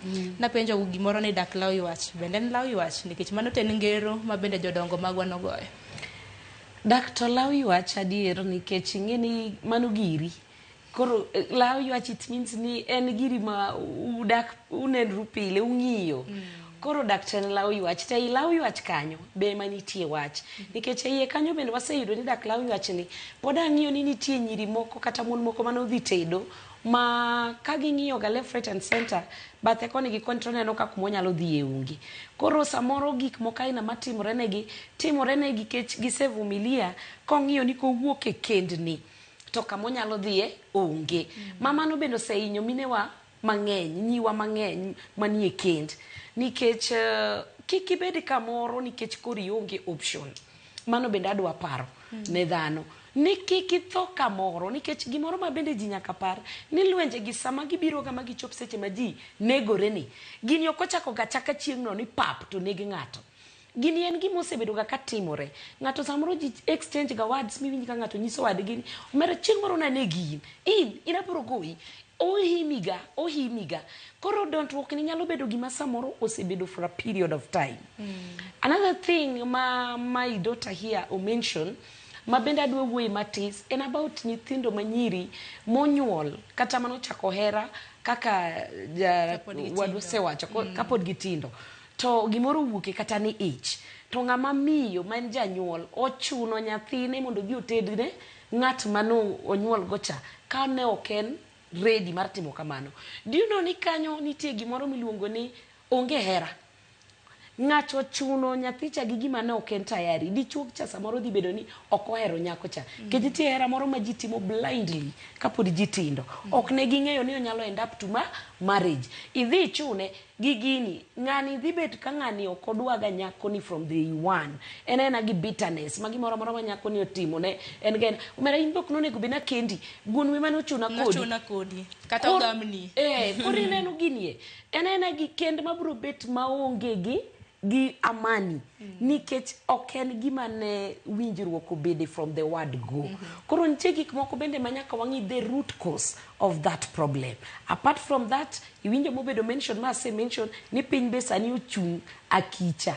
Mm. Napenjo gimoro ni dak law ywach. Bende en law ywach nikech mano ten ngero ma bende jodongo magwa nogoyo. Dak to law ywach adier nikech ing'e ni mano giri. Koro eh, law ywach it means ni en giri ma udak unenru pile ung'iyo. Mm. Koro dak to en law ywach to ei law ywach kanyo be ema nitie wach mm. nikech eiye kanyo bende waseyudo ni dak law ywach ni pod ang'iyo ni nitie nyiri moko kata mon moko mane odhi tedo ma ka ging'iyo ga left right and center bathe koni gi koni to oneno ka kuma onyalo dhi e onge koro samoro gik moko aina matimore negi timore negi kech gisevumilia kong'iyo ni kowuok e kendni to kama onyalo dhiye onge ma mano bende osehinyo minewa mang'eny nyiwa mang'eny manie kend nikech eh, kik ibed kamoro nikech koro ionge option Mano bende adwa paro ne dhano ni kik itho kamoro nikech gimoro ma bende ji nyaka par ni lwenje gi sama gibiroga ma gichop seche ma ji negore ni gini ok ochako ga chaka chieng'no ni pap to neg ng'ato. Gini en gima osebedoga ka timore. Ng'ato samoro ji exchange ga words miwinj ka ng'ato nyiso wadgi ni omera chieng' moro nanegi in, in, in abiro goyi. Ohimiga, ohimiga. Koro don't walk ni nyalo bedo gima samoro osebedo for a period of time. Another thing ma my daughter here o mention ma bende adwa wuoye matis en about nyithindo manyiri monyuol kata mane ochako hera kaka ja, Kapod gitindo. wadu osewacho ko- kapod gitindo to gimoro owuoke kata ni ich to ng'ama miyo ma en janyuol ochuno nyathine mondo odhi otedne Ng'at ma ne onyuolgocha ka ne ok en ready mar timo kamano. Do you know ni kanyo nitie gimoro miluongo ni onge hera. Ng'ato chuno nyathicha gi gima ne ok en tayari. Dichuogcha samoro dhi bedo ni ok ohero nyakocha. Nikech nitie hera moro ma ji timo blindly kapod ji tindo. Ok ne ging'eyo ni onyalo end up to marriage. Idhi ichune gi gini ng'ani dhi bet ka ng'ani ok odwaga nyakoni from the one en aena gi bitterness ma gimoro amora ma nyakoni otimone en ga en- omera in bok nonego bed nakendi guon wi mane ochuna kodi Nochuna kodi. Kata Kor- ogamni. eh koro ineno ginie en aena gi kend mabiro bet maonge gi gi Amani nikech ok en gima ne winjruok obede from the word go. Koro nitie gik moko bende ma nyaka wang'i the root cause of that problem. Apart from that, iwinjo mobedo mentioned ma ase mention ni piny be sani ochung' akicha.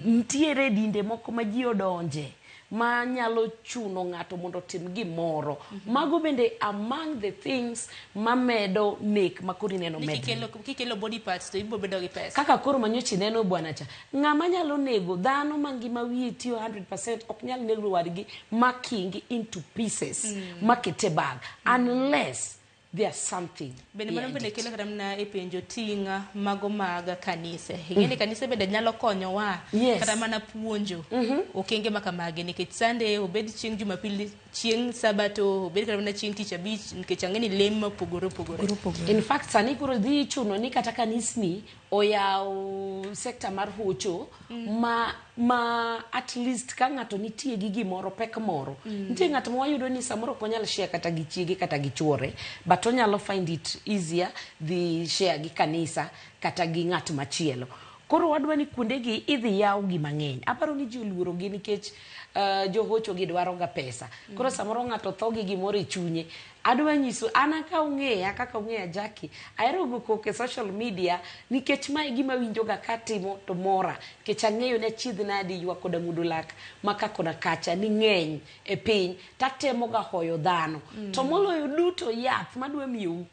Nitiere dinde moko ma ji odonje. ma nyalo chuno ng'ato mondo otim gimoro. Mm -hmm. Mago bende among the things ma medo nek ma koro ineno medo. Kikelo, kikelo body parts to ibo bedo gi pesa. Kaka koro manyochi neno bwana cha. Ng'ama nyalo nego dhano ma ngima wiye tiyo 100% ok nyal nego wadgi ma kingi into pieces mm. ma kete bag mm. unless there's something bende mano bende kelo kata mana e penjo ting' mago mag kanise ing'e ni mm. kanise bende nyalo konyowa yes. kata mana puonjo mm -hmm. okenge ma kamagi nikech sande obed chieng' jumapili chieng' sabato obed kata mana chieng' tich abich nikech ang'e ni lem mopogore opogore in fact sani koro dhi chuno ni kata kanisni oyawo sekta mar hocho mm. ma, ma at least ka ng'ato nitie gi gimoro pek moro mm. nitie ng'at ma wayudo ni samoro ok onyal share kata gi chiege kata gi chuore but onyalo find it easier dhi share gi kanisa kata gi ng'at machielo koro wadwa ni kuondegi idhi yaw gi mang'eny aparo ni ji oluorogi nikech uh, johochogi dwaroga pesa koro mm. samoro ng'ato tho gi gimoro e chunye Adwa nyisu an an ka ung'eya kaka ung'eya Jackie, ahero go koko e social media nikech ma e gima awinjoga ka atimo to mora nikech ang'eyo ni achiedh nadi ywak koda mudo lak ma ka kona kacha ni ng'eny e piny to atemoga hoyo dhano. To moloyo duto yath madwa miyou,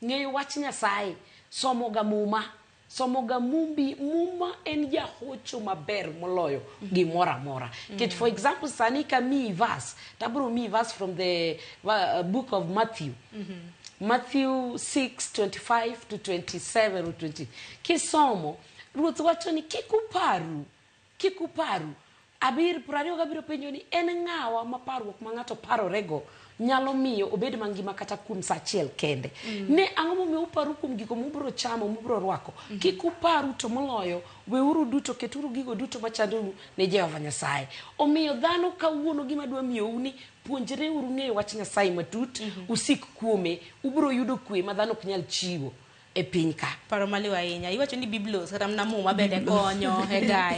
ng'eyo wach Nyasaye, somoga muma somoga mumbi muma en jahocho maber moloyo gimoro amora kech for example sani kamiyi verse tabro miyi verse from the uh, book of matthew matthew 6 25 to 27 or 20 kisomo ruoth wacho ni kik uparu Kik uparru. Abir, prariyo gabiro penjo ni, En ng'awa ma parruok ma ng'ato parorego nyalo miyo obed mangima kata kuom sa achiel kende? Ne ang'o momiyo uparru kuom gigo mubiro chamo, mubiro rwako? Kik uparru, to moloyo, weuru duto, keturu gigo duto ma chandou ne Jehova Nyasaye. Omiyo, dhano kawuono gima adwa miyou ni, Puonjreuru ng'eyo Wach Nyasaye matut, usik kuome, ubiro yudo kwe ma dhano ok nyal chiwo e piny ka. Paro maliw ahinya. Iwacho ni Biblos kata mana Muma bende konyo e gayo.